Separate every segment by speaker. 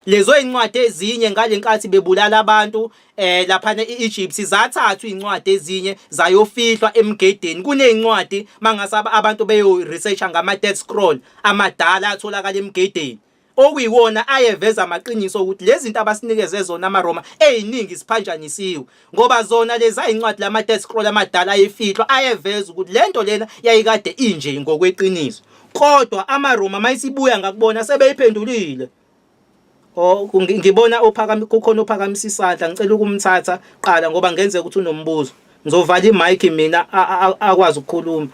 Speaker 1: lezo yincwadi ezinye ngalenkathi bebulala abantu eh lapha eEgypt zathathwa incwadi ezinye zayofihlwa emgedeni kunezincwadi mangasaba abantu beyo research ngama dead scroll amadala atholakala emgedeni okuyiwona ayeveza amaqiniso ukuthi lezi zinto abasinikeze zona amaRoma eziningi siphanjanisiwe ngoba zona lezi ayincwadi lama dead scroll amadala ayefihlwa ayeveza ukuthi lento lena yayikade inje ngokweqiniso kodwa amaRoma mayisibuya ngakubona sebeyiphendulile Oh ngibona ophakama kukhona ophakamisa isandla ngicela ukumthatha qala ngoba ngenzeka ukuthi unombuzo. Ngizovala imic mina akwazi ukukhuluma.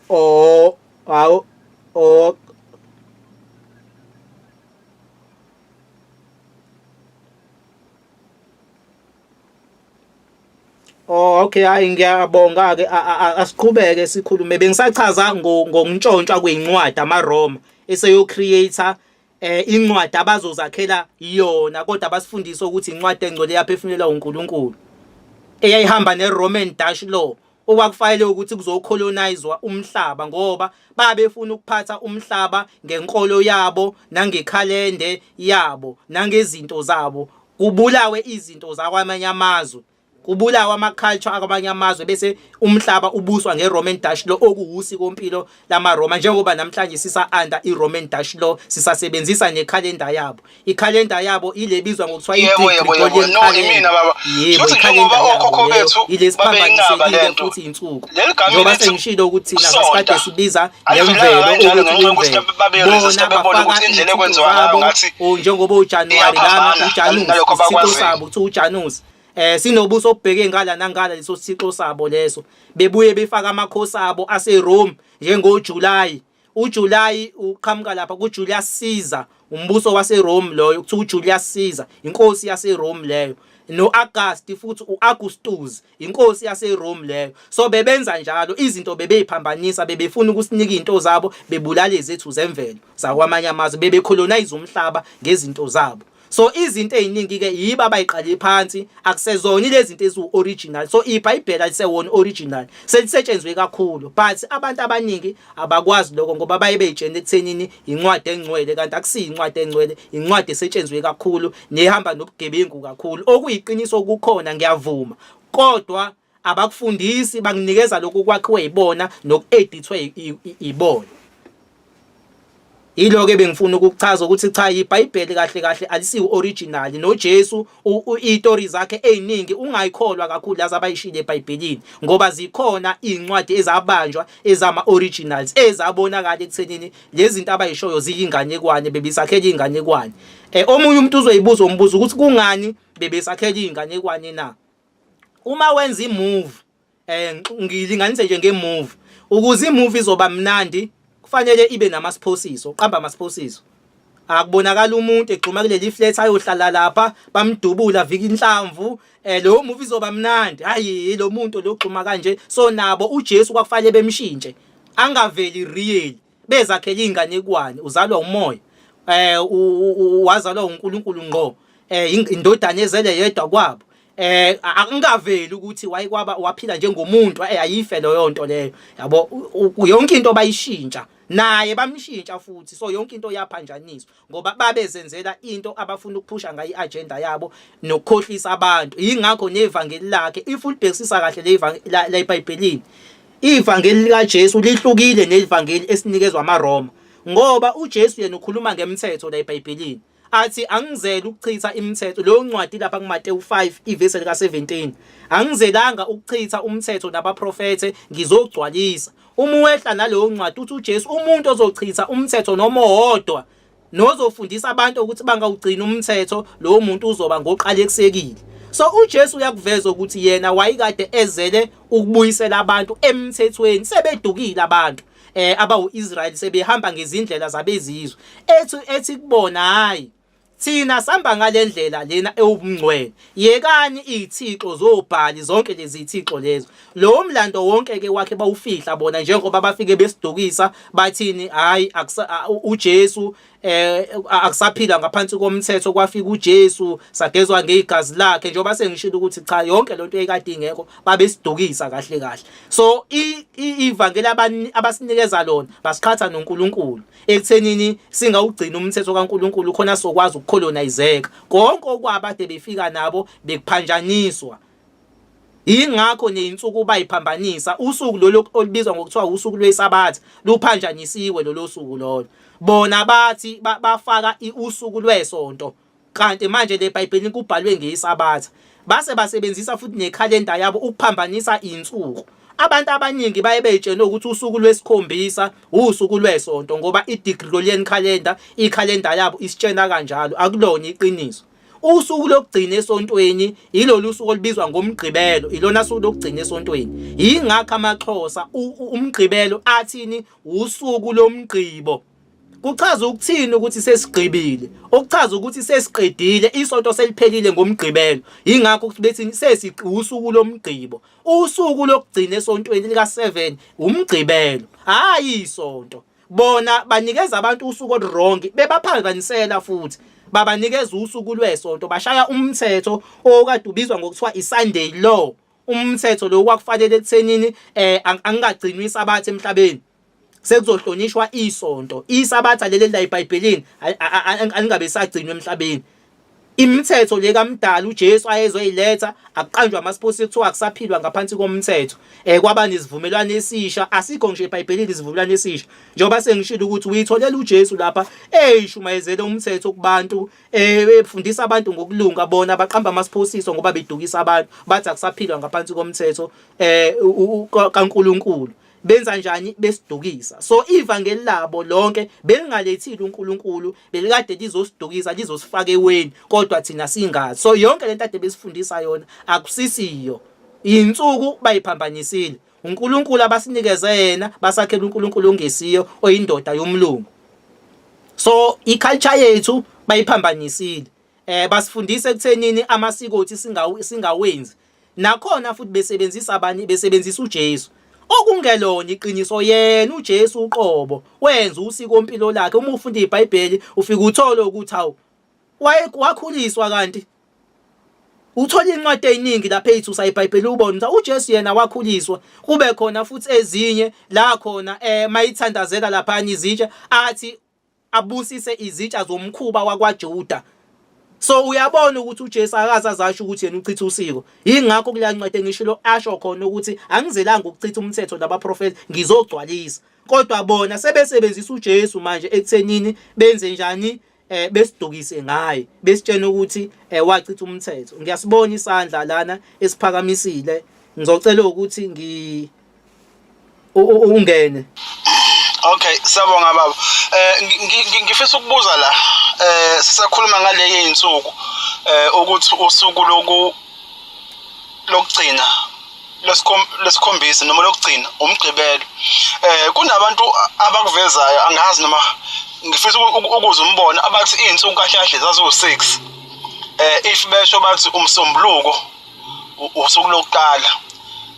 Speaker 1: Oh awu oh Oh okay hayi ngiyabonga ke asiqhubeke sikhulume bengisachaza ngokuntshontshwa kwezincwadi amaRoma eseyo creator eh incwadi abazozakhela yona kodwa basifundisa ukuthi incwadi engcwele yaphefumulelwa uNkulunkulu eyayihamba neRoman Dutch law okwakufayele ukuthi kuzocolonizwa umhlaba ngoba babefuna ukuphatha umhlaba ngenkolo yabo nangekhalende yabo nangezinto zabo kubulawe izinto zakwamanye amazwe kubulawa ama-culture akwamanye amazwe bese umhlaba ubuswa nge-roman dutch lo okuwusikompilo lamaRoma njengoba namhlanje sisa-under i-Roman Dutch law sisasebenzisa nekhalenda yabo ikhalenda yabo ile ebizwa ngokuthiwa i-Gregorian calendar yebo ikhalenda yabo ile siphambanisekile futhi insuku njengoba sengishilo ukuthi thina sasikade sibiza ngemvelo ukuthi imvelo bona bafaka indlela ekwenziwa ngayo ngathi njengoba uJanuwari lana uJanusi isitho sabo kuthiwa uJanusi eh sinobuso obheke ngala nangala leso sixo sabo leso bebuye befaka amakhosi abo ase Rome njengo July uJuly uqhamuka lapha kuJulius Caesar umbuso wase Rome loyo kuthiwa uJulius Caesar inkosi yase Rome leyo noAugust futhi uAugustus inkosi yase Rome leyo so bebenza njalo izinto bebeyiphambanisa bebefuna ukusinika izinto zabo bebulale zethu zemvelo zakwamanye amazwe bebecolonize umhlaba ngezinto zabo so izinto eziningi ke yibo abayiqale phansi akusezona lezi zinto eziwu original so ibhayibheli alisewona original selisetshenzwe kakhulu but abantu abaningi abakwazi lokho ngoba baye beyitshene ekuthenini incwadi engcwele kanti akusiyi incwadi engcwele incwadi esetshenzwe kakhulu nehamba nobugebengu kakhulu okuyiqiniso kukhona ngiyavuma kodwa abakufundisi banginikeza lokhu kwakhiwe yibona nokuedithwe yibona yilo ke bengifuna ukuchaza ukuthi cha iBhayibheli kahle kahle alisiwu original noJesu istory zakhe eziningi ungayikholwa kakhulu laza bayishile eBhayibhelini ngoba zikhona incwadi ezabanjwa ezama originals ezabonakala ekuthenini lezi zinto abayishoyo ziyinganekwane bebisakhela inganekwane eh omunye umuntu uzoyibuza umbuzo ukuthi kungani bebesakhela inganekwane na uma wenza imove eh ngilinganise nje ngemove ukuze imove izoba mnandi kufanele ibe namasphosiso uqamba amasphosiso akubonakala umuntu egxuma kuleli flat ayohlala lapha bamdubula vika inhlamvu eh lo movie izoba mnandi hayi lo muntu lo gxuma kanje so nabo uJesu kwakufanele bemshintshe angaveli real bezakhele izinganekwane uzalwa umoya eh wazalwa uNkulunkulu ngqo eh indodana ezele yedwa kwabo eh akungaveli ukuthi wayikwaba waphila njengomuntu eh, ayife leyo nto leyo yabo yonke into bayishintsha naye bamshintsha futhi so yonke into yaphanjaniswa ngoba babezenzela into abafuna ukuphusha ngayo i-agenda yabo nokukhohlisa abantu yingakho nevangeli lakhe if ulibhekisisa kahle lebhayibhelini ivangeli likajesu lihlukile nelivangeli esinikezwa amaroma ngoba ujesu yena ukhuluma ngemthetho la ebhayibhelini athi angizele ukuchitha imithetho leyo ncwadi lapha kuMateyu 5 ivesi lika 17 angizelanga ukuchitha umthetho nabaprofethe ngizogcwalisa Uma uwehla naleyo ncwadi uthi uJesu umuntu ozochitha umthetho noma owodwa nozofundisa abantu ukuthi bangawugcina umthetho lowo muntu uzoba ngoqalekisekile so uJesu uyakuveza ukuthi yena wayikade ezele ukubuyisela abantu emthethweni sebedukile abantu eh abawu-Israyeli sebehamba ngezindlela zabezizwe ethi ethi kubona hayi Thina samba ngalendlela lena ewubungcwele. Yekani izithixo zobhali zonke lezi zithixo lezo. Lo mlando wonke ke wakhe bawufihla bona njengoba bafike besidukisa bathini hayi uJesu eh akusaphila ngaphansi komthetho kwafika uJesu sagezwa ngezigazi lakhe njengoba sengishilo ukuthi cha yonke lento eyikade ingekho babesidukisa kahle kahle. So ivangeli abasinikeza lona basiqhatha noNkulunkulu. ekuthenini singawugcina umthetho kaNkuluNkulu khona sokwazi ukucolonizeka konke okwabade befika nabo bekuphanjaniswa ingakho neyinsuku bayiphambanisa usuku lolu olubizwa ngokuthiwa usuku lwesabatha luphanjanisiwe lolo suku lolo bona bathi bafaka usuku lwesonto Kanti manje le Bhayibheli kubhalwe ngesabatha. Base basebenzisa futhi nekhalenda yabo ukuphambanisa insuku. Abantu abaningi baye beyitshele ukuthi usuku lwesikhombisa usuku lwesonto ngoba i-Gregorian calendar ikhalenda yabo isitshela kanjalo akulona iqiniso. Usuku lokugcina esontweni ilolu suku olubizwa ngomgqibelo, ilona suku lokugcina esontweni. Yingakho amaXhosa umgqibelo athini usuku lomgqibo. Kuchaza ukuthini ukuthi sesigqibile? Okuchaza ukuthi sesiqedile isonto seliphelile ngomgqibelo. Yingakho ukuthi bethi sesiqusuku lomgqibo. Usuku lokugcina esontweni lika 7 umgqibelo. Hayi isonto. Bona banikeza abantu usuku olwrong bebaphazanyisela futhi babanikeza usuku lwesonto bashaya umthetho okade ubizwa ngokuthiwa iSunday law umthetho lo kwakufanele ekuthenini eh angingagcinwa isabatha emhlabeni sekuzohlonishwa isonto isabatha leli layibhayibhelini alingabe sagcinwa emhlabeni imithetho le kamdala uJesu ayezoyiletha akuqanjwa amasiposi kuthiwa akusaphilwa ngaphansi komthetho eh kwaba nesivumelwano esisha asikho ngisho eBhayibhelini isivumelwano esisha njengoba sengishilo ukuthi uyitholela uJesu lapha eyishumayezele umthetho kubantu eh efundisa abantu ngokulunga bona baqamba amasiphosiso ngoba bedukisa abantu bathi akusaphilwa ngaphansi komthetho eh kaNkuluNkulu benza njani besidukisa so ivangeli labo lonke belingalethile uNkulunkulu belikade lizosidukisa lizosifaka eweni kodwa thina singazi so yonke lento ade besifundisa yona akusisiyo insuku bayiphambanisile uNkulunkulu abasinikeze yena basakhela uNkulunkulu ongesiyo oyindoda yomlungu so iculture yethu bayiphambanisile eh basifundisa ekuthenini amasiko othi singawenzi Nakhona futhi besebenzisa abanye besebenzisa uJesu. Okungelona iqiniso yena uJesu uqobo wenza usiko impilo lakhe uma ufunda iBhayibheli ufika uthole ukuthi awu wakhuliswa kanti uthola incwadi eziningi lapha eyithusa iBhayibheli ubone ukuthi uJesu yena wakhuliswa kube khona futhi ezinye la khona eh mayithandazeka lapha izitsha athi abusise izitsha zomkhuba wakwaJuda so uyabona ukuthi uJesu akaze azasho ukuthi yena uchitha usiko yingakho kuleya ncwadi engishilo asho khona ukuthi angizelanga ukuchitha umthetho nabaprofeti ngizogcwalisa kodwa bona sebesebenzisa uJesu manje ekuthenini benze njani eh besidukise ngaye besitshena ukuthi eh wachitha umthetho ngiyasibona isandla lana esiphakamisile ngizocela ukuthi ngi ungene Okay
Speaker 2: siyabonga baba eh ngifisa ukubuza la eh sisakhuluma ngaleke insuku eh ukuthi usuku loku lokugcina lesikhombisa noma lokugcina umgqibelo eh kunabantu abakuvezayo angazi noma ngifisa ukuze umbone abathi izinsuku kahle kahle zaziwu6 eh if besho bathi umsombuluko usuku lokuqala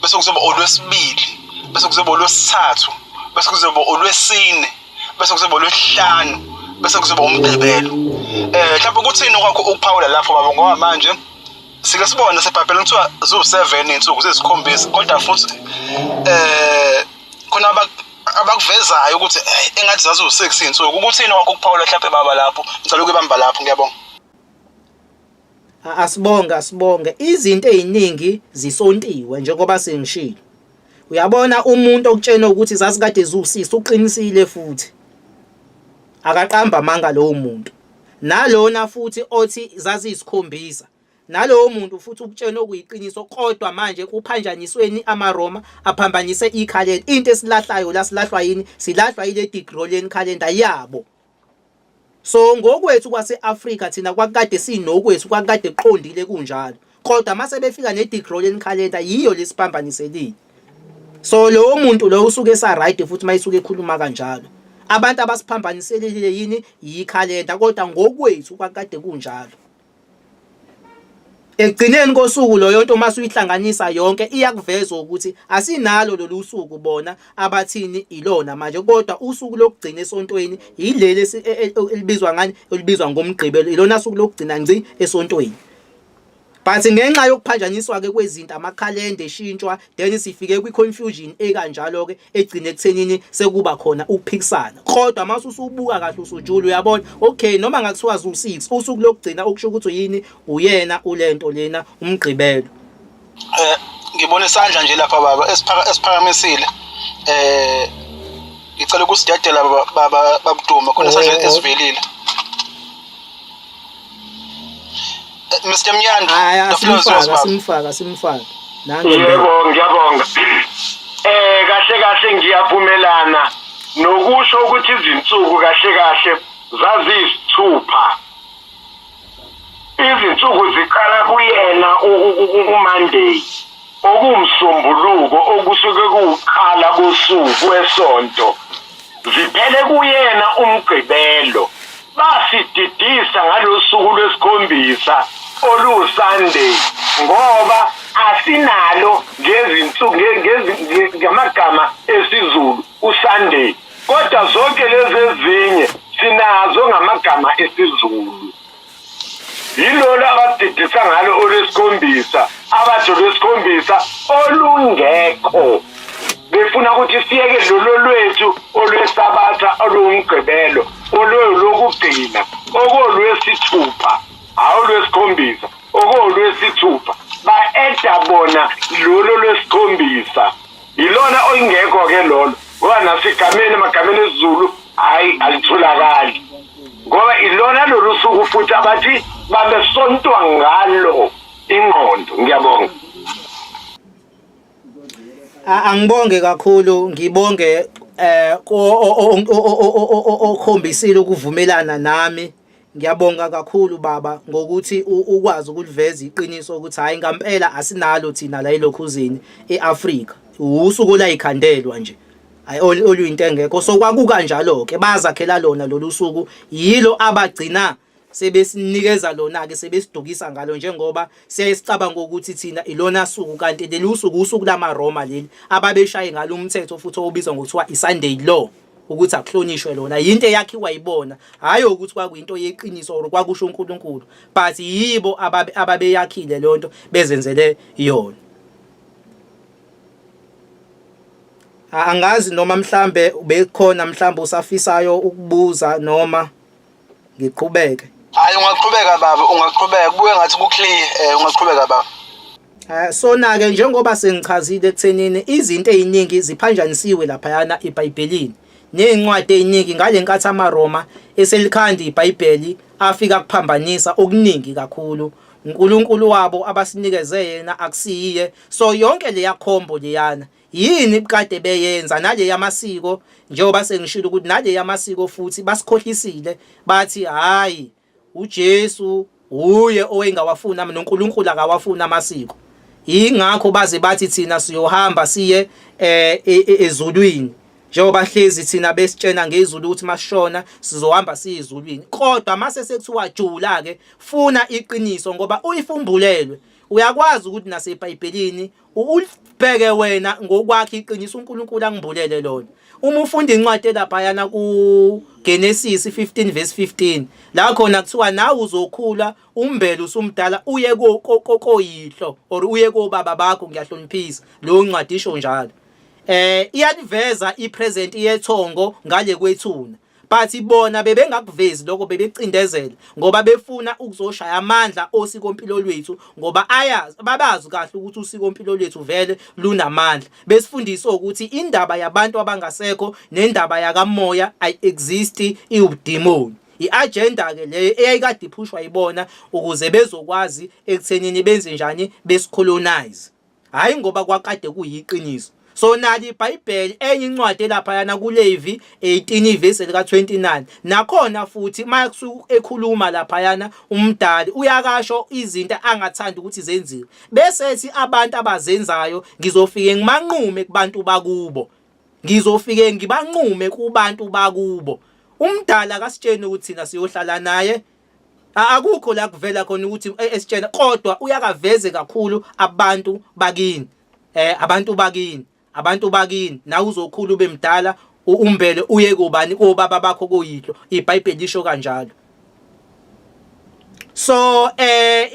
Speaker 2: bese kuzoba olwesibili bese kuzoba olwesithathu bese kuzoba olwesine bese kuzoba olwesihlanu bese kuzoba umgqibelo eh mhlawumbe ukuthini kwakho ukuphawula lapho baba ngoba manje sike sibone sebhabhela kuthiwa ziwu-seven iy'nsuku ziyisikhombisa kodwa futhi eh khona abakuvezayo ukuthi eh, engathi zaziwu-six iy'nsuku ukuthini kwakho ukuphawula mhlawumbe baba lapho ngicela ukuyibamba lapho ngiyabonga
Speaker 1: asibonge asibonge izinto eziningi zisontiwe njengoba sengishilo uyabona umuntu okutshena ukuthi zasikade ziwusisi uqinisile futhi akaqamba amanga lowo muntu nalona futhi othi zaziyisikhombisa nalowo muntu futhi ukutshena okuyiqiniso kodwa manje kuphanjanisweni amaroma aphambanise ikhalenda into esilahlayo la silahlwa yini silahlwa yile digroleni calendar yabo so ngokwethu kwase-afrika thina kwakade sinokwethu kwakade kuqondile kunjalo kodwa mase befika ne-degrollen calendar yiyo lesipambaniselile so lowo muntu lowo usuke esarayide futhi uma isuke ekhuluma kanjalo abantu abasiphambaniselile yini yikhalenda kodwa ngokwethu kwakade kunjalo Ekugcineni kosuku loyo nto uma suyihlanganisa yonke iyakuveza ukuthi asinalo lolu suku bona abathini ilona manje kodwa usuku lokugcina esontweni yileli e- e- elibizwa ngani elibizwa ngomgqibelo ilona suku lokugcina ngci esontweni but ngenxa yokuphanjaniswa ke kwezinto amakhalenda eshintshwa then sifike kwi-confusion ekanjalo-ke egcine ekuthenini sekuba khona ukuphikisana kodwa uma usubuka kahle usujula uyabona okay noma ngakuthiwa zu-six usuku lokugcina okusho ukuthi yini uyena ule nto lena umgqibelo
Speaker 2: um ngibona isandla nje lapha baba esiphakamisile um ngicela ukusidedela babudume khona isandla esivelile Eh, Mr Mnyanda hayi asimfaka simfaka simfaka
Speaker 1: nange yebo
Speaker 3: ngiyabonga eh kahle kahle ngiyavumelana nokusho ukuthi izinsuku kahle kahle zaziyisithupha izinsuku ziqala kuyena uMonday okuwuMsombuluko okusuke kuwukuqala kosuku kwesonto, ziphele kuyena uMgqibelo, basididisa ngalosuku lwesikhombisa oluwuSunday ngoba asinalo ngamagama esiZulu uSunday kodwa zonke lezi ezinye sinazo ngamagama esiZulu. yilolu abadidisa ngalo olwesikhombisa abathi olwesikhombisa olungekho befuna ukuthi siyeke lolo lwethu olwesabatha olungumgqibelo olwelokugcina okolwesithupha hawu lwesikhombisa okolwesithupha ba-eda bona lolo lwesikhombisa yilona oyingekho ke lolo ngoba nasegameni emagameni esiZulu hayi alitholakali ngoba ilona lolu suku futhi abathi babesontwa ngalo ingqondo ngiyabonga
Speaker 1: angibonge kakhulu ngibonge eh okhombisile ukuvumelana nami Ngiyabonga kakhulu baba ngokuthi ukwazi ukuliveza iqiniso ukuthi hayi ngampela asinalo thina la elokhuzini eAfrika. Usuku layikhandelwa nje. Hayi oluyinto engekho so kwakukanjalo ke bazakhela lona lolu suku yilo abagcina sebesinikeza lona ke sebesidukisa ngalo njengoba siyayisicabanga ukuthi thina ilona suku kanti leli usuku usuku lamaRoma leli ababeshaye ngalo umthetho futhi obizwa ngokuthiwa iSunday law ukuthi akuhlonishwe lona yinto eyakhiwa yibona hhayi ukuthi kwakuyinto yeqiniso or kwakusho uNkulunkulu but yibo ababeyakhile leyo nto bezenzele yona angazi noma mhlambe bekhona mhlambe usafisayo ukubuza noma ngiqhubeke hayi ungaqhubeka
Speaker 2: baba ungaqhubeka kubuye ngathi kuclear eh ungaqhubeka baba eh, sona-ke njengoba
Speaker 1: sengichazile ekuthenini izinto ey'ningi ziphanjanisiwe laphayana ebhayibhelini ney'ncwadi ey'ningi ngale nkathi amaroma eselikhanda ibhayibheli afika kuphambanisa okuningi kakhulu uNkulunkulu wabo abasinikeze yena akusiyiye so yonke leya khombo leyana Yini kade beyenza nale yamasiko njengoba sengishilo ukuthi nale yamasiko futhi basikhohlisile bathi hayi uJesu uye owengawafuni ama noNkulunkulu akawafuni amasiko ingakho baze bathi thina siyohamba siye eh, e, e, ezulwini njengoba hlezi thina besitshena ngezulu ukuthi masishona sizohamba siye ezulwini kodwa mase sekuthiwa jula ke funa iqiniso ngoba uyifumbulelwe uyakwazi ukuthi nasebhayibhelini ulibheke wena ngokwakhe iqiniso uNkulunkulu angibulele lona uma ufunda incwadi elaphayana ku Genesis 15 verse 15 la khona kuthiwa nawe uzokhula umbele usumdala uye koyihlo or uye kobaba bakho ngiyahloniphisa lo ncwadi isho njalo eh iyaliveza ipresent yethongo ngale kwethuna but bona bebengakuvezi lokho bebecindezela ngoba befuna ukuzoshaya amandla osikompilo lwethu ngoba ayazi babazi kahle ukuthi usikompilo lwethu vele lunamandla besifundisa ukuthi indaba yabantu abangasekho nendaba yakamoya i exist iwudemon i-agenda ke leyo eyayikade iphushwa yibona ukuze bezokwazi ekuthenini benze njani besicolonize hhayi ngoba kwakade kuyiqiniso so nali ibhayibheli enye incwadi elaphayana kulevi 18 ivesi elika-29 nakhona futhi uma ekhuluma laphayana umdali uyakasho izinto angathandi ukuthi zenziwe bese ethi abantu abazenzayo ngizofike ngimanqume kubantu bakubo ngizofike ngibanqume kubantu bakubo umdala akasitsheni ukuthi thina siyohlala naye akukho la kuvela khona ukuthi e, esitshena kodwa uyakaveze kakhulu abantu bakini eh abantu bakini abantu bakini nawe uzokhula ube mdala umbele uye kubani kobaba bakho kuyihlo iBhayibheli lisho kanjalo so eh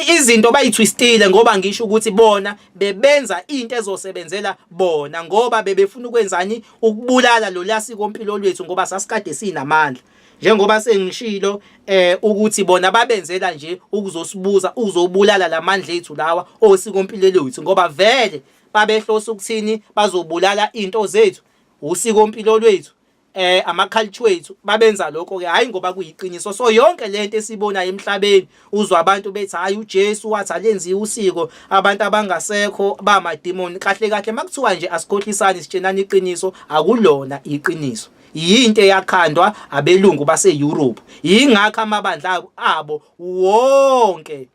Speaker 1: izinto bayithwistile ngoba ngisho ukuthi bona bebenza into ezosebenzela bona ngoba bebefuna ukwenzani ukubulala lo lasiko mpilo lwethu ngoba sasikade sinamandla njengoba sengishilo eh ukuthi bona babenzela nje ukuzosibuza uzobulala lamandla ethu lawa osikompilo lwethu ngoba vele babehlosa ukuthini bazobulala into zethu usikompilo lwethu eh ama culture wethu babenza lokho ke hayi ngoba kuyiqiniso so yonke lento esibona emhlabeni uzwa abantu bethi hayi uJesu wathi alenziwe usiko abantu abangasekho ba mademon kahle kahle makuthiwa nje asikhohlisani sitshenana iqiniso akulona iqiniso yinto eyakhandwa abelungu base-Europe yingakho amabandla abo wonke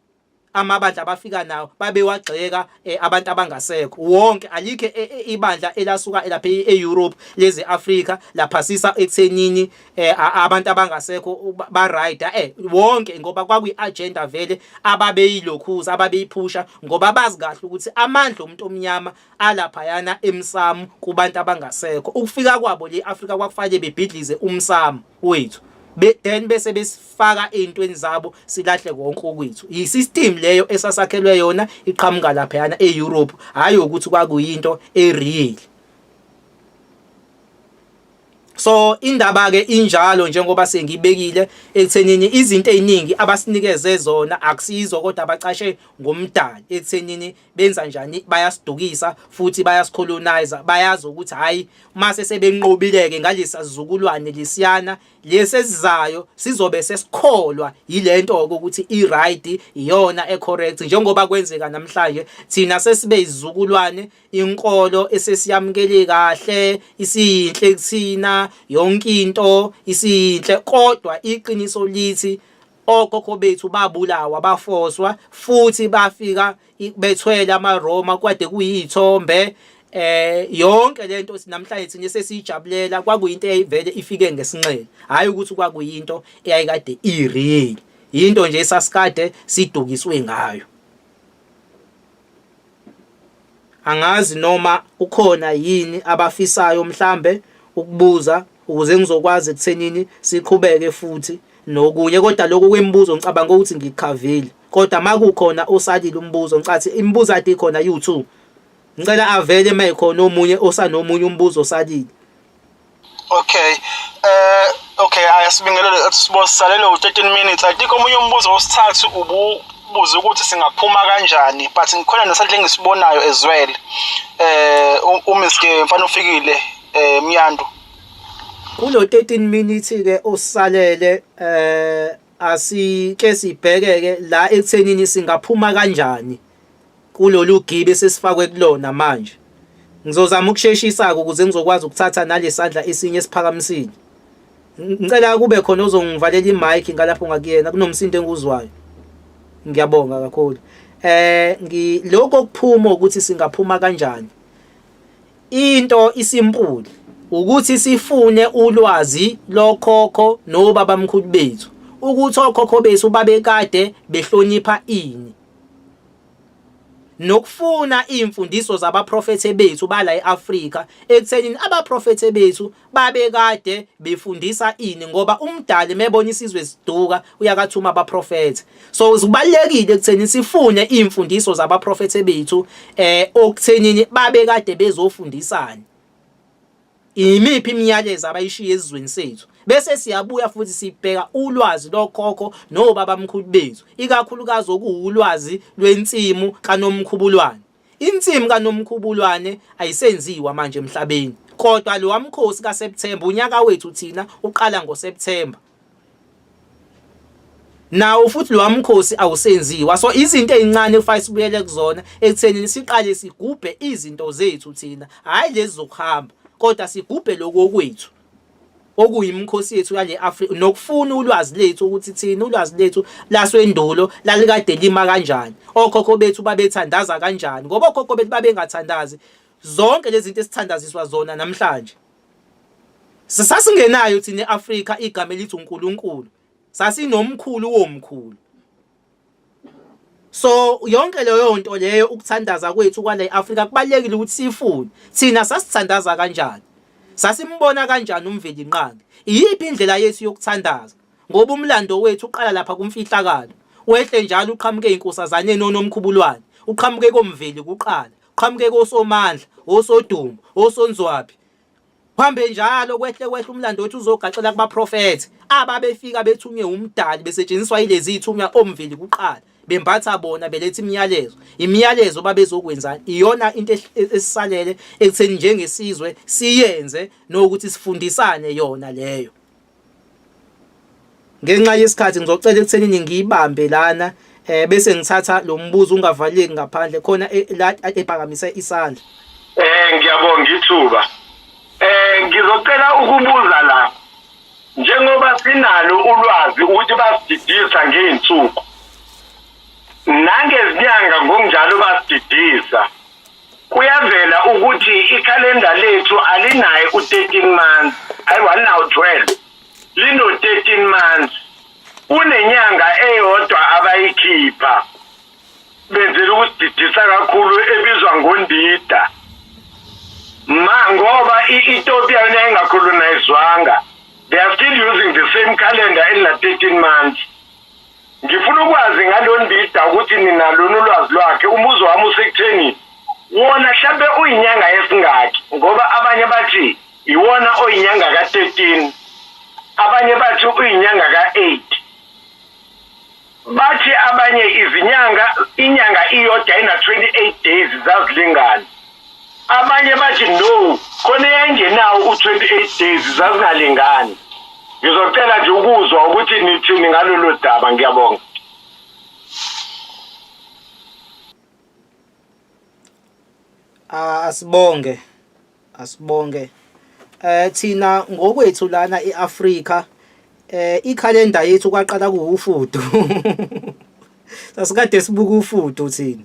Speaker 1: amabandla abafika nawo babewagxeka eh, abantu abangasekho wonke alikho eh, eh, ibandla elasuka lapha e-Europe leze Africa laphasisa ekuthenini abantu abangasekho ba right eh wonke ngoba kwakuyi agenda vele ababeyilokhuza ababeyiphusha ngoba bazi kahle ukuthi amandla omuntu omnyama alaphayana emsamu kubantu abangasekho ukufika kwabo le Africa kwakufanele bebhidlize umsamu wethu be then bese besifaka ezintweni zabo silahle konke okwethu i system leyo esasakhelwe yona iqhamuka laphayana eEurope hayi ukuthi kwakuyinto ereal so indaba ke injalo njengoba sengibekile ekuthenini izinto eziningi abasinikeze zona akusizo kodwa abacashe ngomdali ekuthenini benza njani bayasidukisa futhi bayasicolonizer bayazi ukuthi hayi mase sebenqobileke ngalesi sizukulwane lesiyana lesesizayo sizobe sesikholwa yilento ukuthi i right iyona e correct njengoba kwenzeka namhlanje thina sesibe izizukulwane inkolo esesiyamukele kahle isiyinhle kuthina yonke into isiyinhle kodwa iqiniso lithi okhokho bethu babulawa bafoswa futhi bafika bethwele amaRoma kwade kuyithombe eh yonke lento sinamhlanje thina sesiyijabulela kwakuyinto eyivele ifike ngesinxele hayi ukuthi kwakuyinto eyayikade ireal into nje sasikade sidukiswe ngayo Angazi noma ukhona yini abafisayo mhlambe ukubuza ukuze ngizokwazi ekuthenini siqhubeke futhi nokunye kodwa lokho kwemibuzo ngicabanga ukuthi ngikhavile kodwa makukhona osalile umbuzo ngicathi imibuzo ade khona you2 ngicela avele mayikhona omunye osanomunye umbuzo osalile
Speaker 2: okay eh okay ayasibingelela sibosisalele u-13 minutes i think omunye umbuzo wesithathu ububuze ukuthi singaphuma kanjani but ngikhona nesadle engisibonayo as well eh umiske mfana ufikile eh myandu
Speaker 1: kulo 13 minutes ke osalele eh asike sibhekeke la ekuthenini singaphuma kanjani kulolu gibe sesifakwe kulona manje ngizozama ukusheshisa-ke ukuze ngizokwazi ukuthatha nalesandla esinye esiphakamisile ngicela kube khona ozongivalela imike ngalapho ngakuyena kunomsindo enguzwayo ngiyabonga kakhulu eh lokho kuphuma ukuthi singaphuma kanjani Into isimpuli ukuthi sifune ulwazi lokhokho nobabamkhulu bethu ukuthi okhokho bethu babekade behlonipha ini nokufuna iy'mfundiso zabaprofethe bethu bala e-Afrika ekuthenini abaprofethe bethu babekade befundisa ini ngoba umdali mebona isizwe esiduka uyakathuma abaprofethi so uzibalekile ekutheni sifune imfundiso zabaprofethi bethu eh okuthenini babekade bezofundisana imiphi imiyalezo abayishiya ezizweni sethu bese siyabuya futhi sibheka ulwazi lokhokho nobabamkhulu bethu ikakhulukazi okuwulwazi lwensimu kanomkhubulwane Insimu kaNomkhubulwane ayisenziwa manje emhlabeni kodwa lo wamkhosi kaSeptember unyaka wethu thina uqala ngoSeptember nawo futhi lo wamkhosi awusenziwa so izinto ezincane kufanele sibuyele kuzona ekutheni siqale sigubhe izinto zethu thina hhayi lezi zokuhamba kodwa sigubhe lokho okwethu okuyimikhosi yethu yale Afrika nokufuna ulwazi lethu ukuthi thina ulwazi lethu laswendulo lalikade lima kanjani okhokho bethu babethandaza kanjani ngoba okhokho bethu babengathandazi zonke lezi zinto esithandaziswa zona namhlanje sisasingenayo thina eAfrika igama elithi uNkulunkulu sasinomkhulu womkhulu so yonke leyo nto leyo ukuthandaza kwethu kwale Africa kubalekile ukuthi sifunde thina sasithandaza kanjani sasimbona kanjani umveli nqangi iyiphi indlela yethu yokuthandaza ngoba umlando wethu uqala lapha kumfihlakalo wehle njalo uqhamuke inkosazane nonomkhubulwane uqhamuke komveli kuqala uqhamuke kosomandla osodumo osonzwabi Kuhambe njalo kwehle kwehle umlando wethu uzogaxela kubaprofethi ababefika bethunywe umdali besetshenziswa ilezi ithunywa omveli kuqala bembatha bona beletha imiyalezo imiyalezo babezokwenzani iyona into esisalele ekutheni njengesizwe siyenze nokuthi sifundisane yona leyo ngenxa yesikhathi ngizocela ekuthenini ngiyibambe lana eh bese ngithatha lo mbuzo ungavaleki ngaphandle khona e, la ephakamisa isandla eh ngiyabonga
Speaker 3: ithuba eh ngizocela ukubuza la njengoba sinalo ulwazi ukuthi basididisa ngeensuku nangezinyanga ngokunjalo basididisa Kuyavela ukuthi ikhalenda lethu alinaye u-13 months, hayi walinawo 12. Lino-13 months. Kunenyanga eyodwa abayikhipha benzela ukusididisa kakhulu ebizwa ngondida. Ma ngoba i-Ethiopia yona ingakhulunayizwanga. They are still using the same calendar elina 13 months. Ngifuna ukwazi ngalondida ukuthi ninalona ulwazi lwakhe umbuzo wami usekutheni wona hlambe uyinyanga esingaki ngoba abanye bathi iwona oyinyanga ka-13 abanye bathi uyinyanga ka-8 bathi abanye izinyanga inyanga iyodwa ina-28 days zazilingana Abanye bathi no khona eyayingenawo u-28 days zazingalingani. Ngizocela nje ukuzwa ukuthi nithini ngalolo daba ngiyabonga.
Speaker 1: Ah, asibonge asibonge eh thina ngokwethu lana eAfrika eh ikhalenda yethu kwaqala kuwufudu sasikade sibuka ufudu thina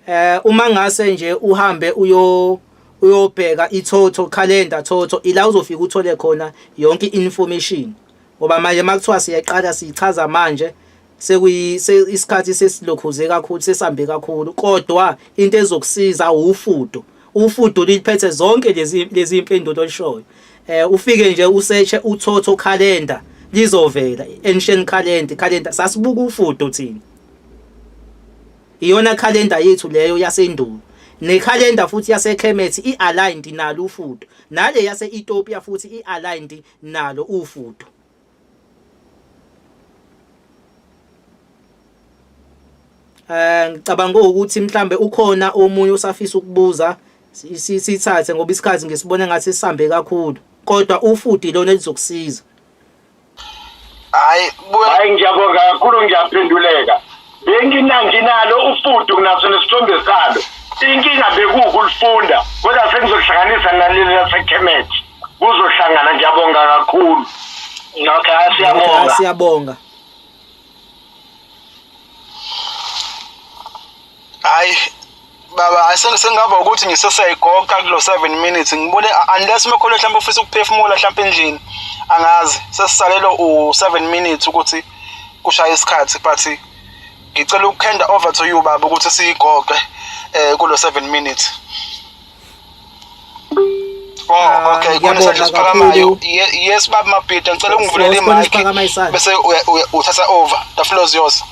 Speaker 1: eh uma ngase nje uhambe uyo uyobheka ithotho calendar thotho ila uzofika uthole khona yonke information ngoba manje makuthiwa siyeqala sichaza manje sekuyi isikhathi sesilokhuze kakhulu sesambe kakhulu kodwa into ezokusiza ufudo ufudo liphethe zonke lezi lezi impendulo olishoyo eh ufike nje useche uthotho calendar lizovela ancient calendar calendar sasibuka ufudo thina Iyona calendar yethu leyo yasendulo. Necalendar futhi yaseKhemethi i-aligned nalo ufudo. Nale yase-Ethiopia futhi i-aligned nalo ufudo. Eh ngicabanga ukuthi mhlambe ukhona omunye osafisa ukubuza sithathe ngoba isikhathi ngisibone ngathi sisambe kakhulu kodwa ufuthi lona elizokusiza hayi
Speaker 3: buya hayi ngiyabonga kakhulu ngiyaphenduleka benginanginalo ufudu kunaso nesithombe salo inkinga bekuwukulifunda kodwa sengizohlanganisa naleli lasekhemethi kuzohlangana ngiyabonga kakhulu okay siyabonga siyabonga
Speaker 2: hayi baba sengingaba ukuthi ngiseseyigoqa kulo 7 minutes ngibone unless umekholo mhlawumbe ufisa ukuphefumula mhlawumbe endlini angazi sesisalelo u7 minutes ukuthi kushaya isikhathi but ngicela ukukhenda over to you baba ukuthi siyigoqe eh kulo 7 minutes Oh, okay. Khona isandla siphakamayo. Yes, baba Mabhida, ngicela ungivulele imic bese uthatha over. The floor is yours.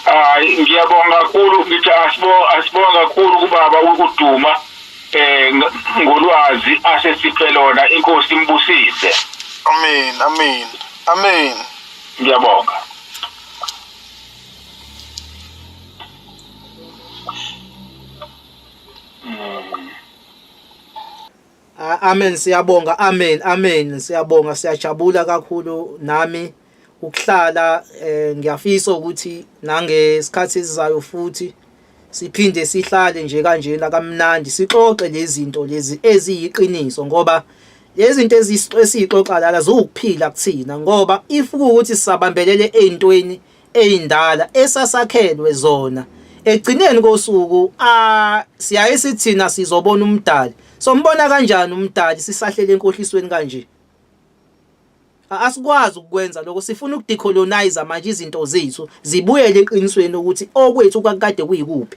Speaker 3: Hayi, ngiyabonga kakhulu ngithi asibonga asibonga kakhulu kubaba ukuduma eh ngolwazi asesiphe lona inkosi imbusise. Amen, amen.
Speaker 2: Amen. Ngiyabonga.
Speaker 1: Amen siyabonga amen amen siyabonga siyajabula kakhulu nami ukuhlala eh, ngiyafisa ukuthi nangesikhathi esizayo futhi siphinde sihlale nje kanjena kamnandi sixoxe lezinto lezi eziyiqiniso ngoba lezinto ezisixoxa lala ziwukuphila kuthina ngoba if ukuthi sisabambelele ezintweni eyindala esasakhelwe zona ekugcineni kosuku siyaye sithina sizobona umdali sombona kanjani umdali sisahlele enkohlisweni kanje asikwazi ukukwenza lokho sifuna ukudecolonize manje izinto zethu zibuyele eqinisweni ukuthi okwethu kwakade kuyikuphi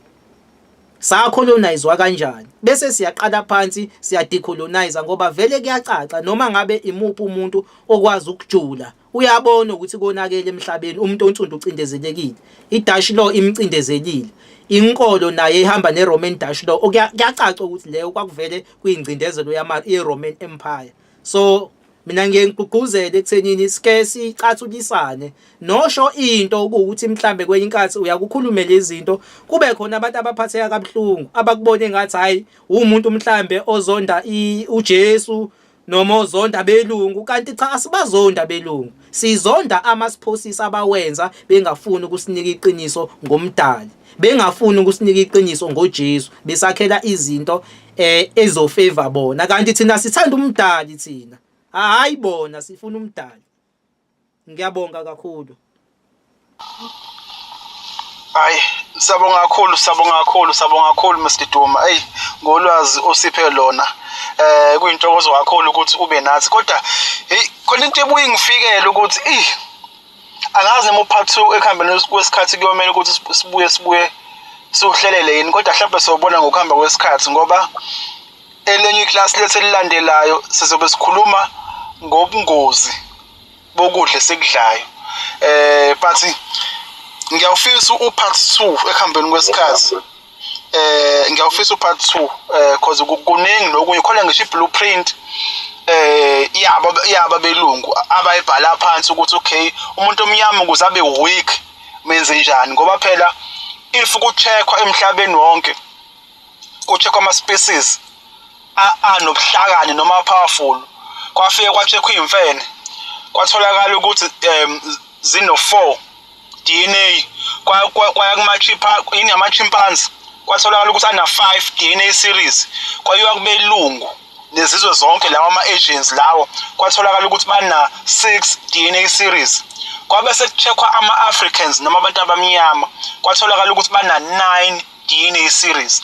Speaker 1: sacolonizwa kanjani bese siyaqala phansi siyadecolonize ngoba vele kuyacaca noma ngabe imuphi umuntu okwazi ukujula Uyabona ukuthi konakele emhlabeni umuntu onsundu ucindezelekile. IDutch law imcindezelile. Inkolo naye ihamba neRoman Dutch law. Okuyacaca ukuthi leyo kwakuvele kuyingcindezelo yama iRoman Empire. So mina ngiye ngigqugquzele ekuthenini sike sicathulisane nosho into ukuthi mhlambe kwenye inkathi uyakukhulume lezinto kube khona abantu abaphatheka kabuhlungu abakubone ngathi hayi umuntu mhlambe ozonda uJesu noma uzonda belungu kanti cha asibazonda belungu sizonda amasiphosis abawenza bengafuni ukusinika iqiniso ngomdali bengafuni ukusinika iqiniso ngoJesu besakhela izinto eh ezofavor bona kanti thina sithanda umdali thina hayi bona sifuna umdali ngiyabonga kakhulu
Speaker 2: hayi sabonga kakhulu sabonga kakhulu sabonga kakhulu Mr Duma hey ngolwazi osiphe lona eh kuyintokozo kakhulu ukuthi ube nathi kodwa hey khona into ebuye ngifikele ukuthi eh angazi noma upart 2 ekuhambeni kwesikhathi kuyomela ukuthi sibuye sibuye siwuhlelele yini kodwa mhlawumbe sobona ngokuhamba kwesikhathi ngoba Elinye iklasi lethu elilandelayo sizobe sikhuluma ngobungozi bokudla esikudlayo. Eh but ngiyawufisa upart 2 ekuhambeni kwesikhathi. Eh ngiyawufisa upart 2 eh cause kuningi lokunye khona ngisho iblueprint eh yaba yaba belungu abayibhala phansi ukuthi okay umuntu omnyama ukuze abe weak menze njani ngoba phela if kucheckwa emhlabeni wonke kucheckwa ama-species anobuhlakani noma powerful kwafike kwacheckwa iy'mfene kwatholakala ukuthi um zino-four DNA kwaya yini yama-chimpanze kwatholakala ukuthi ana-five DNA series kwayiwa kubelungu nezizwe zonke lawa ama-agents lawo kwatholakala ukuthi bana-six DNA series kwabe sekucheckwa ama-africans noma abantu abamnyama kwatholakala ukuthi bana-nine yini i-series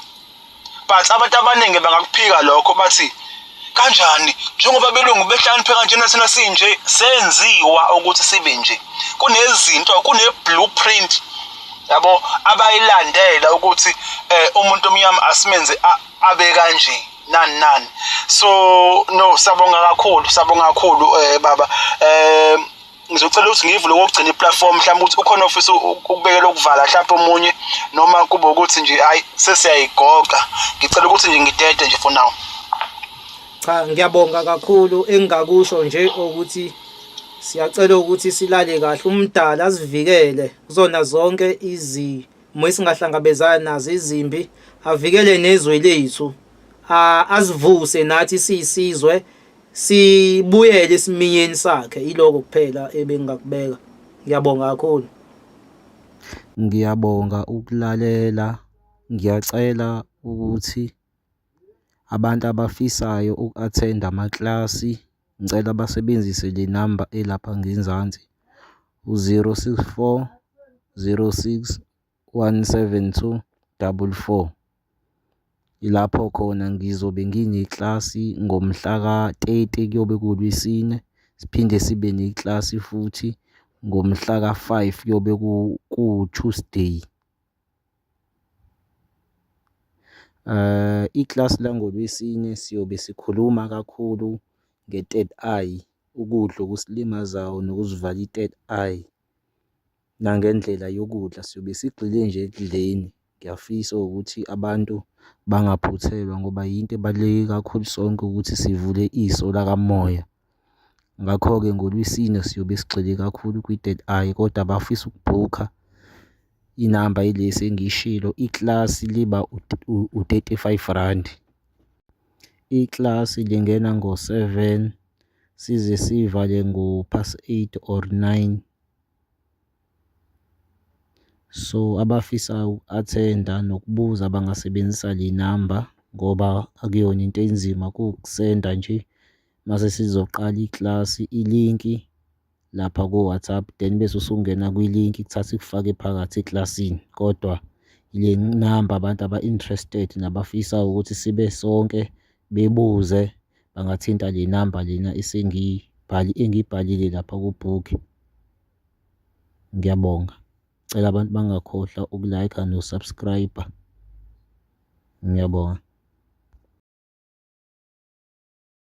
Speaker 2: but abantu abaningi bangakuphika lokho bathi kanjani njengoba belungu behlakaniphe kanjena thina sinje senziwa ukuthi sibe nje kunezinto kune-blueprint yabo abayilandela ukuthi eh, umuntu omnyama asimenze abe kanje nani nani so no sabonga kakhulu sabonga kakhulu eh baba eh ngizocela ukuthi ngiyivule kokugcina iplatform mhlawumbe ukuthi ukhona ofisa ukubekela ukuvala mhlawumbe omunye noma kube ukuthi nje hayi sesiyayigoqa ngicela ukuthi nje ngidede nje for now cha
Speaker 1: ngiyabonga kakhulu engingakusho nje ukuthi siyacela ukuthi silale kahle umdala asivikele kuzona zonke izimo esingahlangabezana nazo izimbi avikele nezwe lethu azivuse nathi siyisizwe sibuyele esiminyeni sakhe iloko kuphela ebengakubeka ngiyabonga kakhulu ngiyabonga
Speaker 4: ukulalela ngiyacela ukuthi abantu abafisayo uku-athenda amaklasi ngicela basebenzise le namba elapha ngenzansi u-064 06 17244 ilapho khona ngizobe ngineklasi ngomhla ka-30 kuyobe kulwisine siphinde sibe neklasi futhi ngomhla ka-5 kuyobe kuwu-Tuesday. Eh iklasi langolwesine siyobe sikhuluma kakhulu nge-third eye, ukudla okusilimazayo nokuzivala i-third eye. nangendlela yokudla siyobe sigxile nje ekudleni. Ngiyafisa ukuthi abantu bangaphuthelwa ngoba yinto ebaluleke kakhulu sonke ukuthi sivule iso lakamoya. Ngakho-ke ngoLwesine siyobe sigxile kakhulu kwi-third eye kodwa abafisa ukubhukha inamba yilesi engiyishilo ikilasi liba u-thirty five randi. Ikilasi lingena ngo-seven. size sivale ngo pass 8 or 9 so abafisa uku-athenda nokubuza bangasebenzisa le namba ngoba akuyona into enzima kuwukusenda nje mase sizoqala iklasi ilinki lapha ku-WhatsApp then bese usungena kwi-link kuthatha ikufake phakathi eklasini kodwa le namba abantu aba-interested nabafisa ukuthi sibe sonke bebuze bangathinta le namba lena engiyibhalile lapha ku-book. Ngiyabonga. Ngicela abantu bangakhohlwa uku-like-a no-subscribe-a. Ngiyabonga.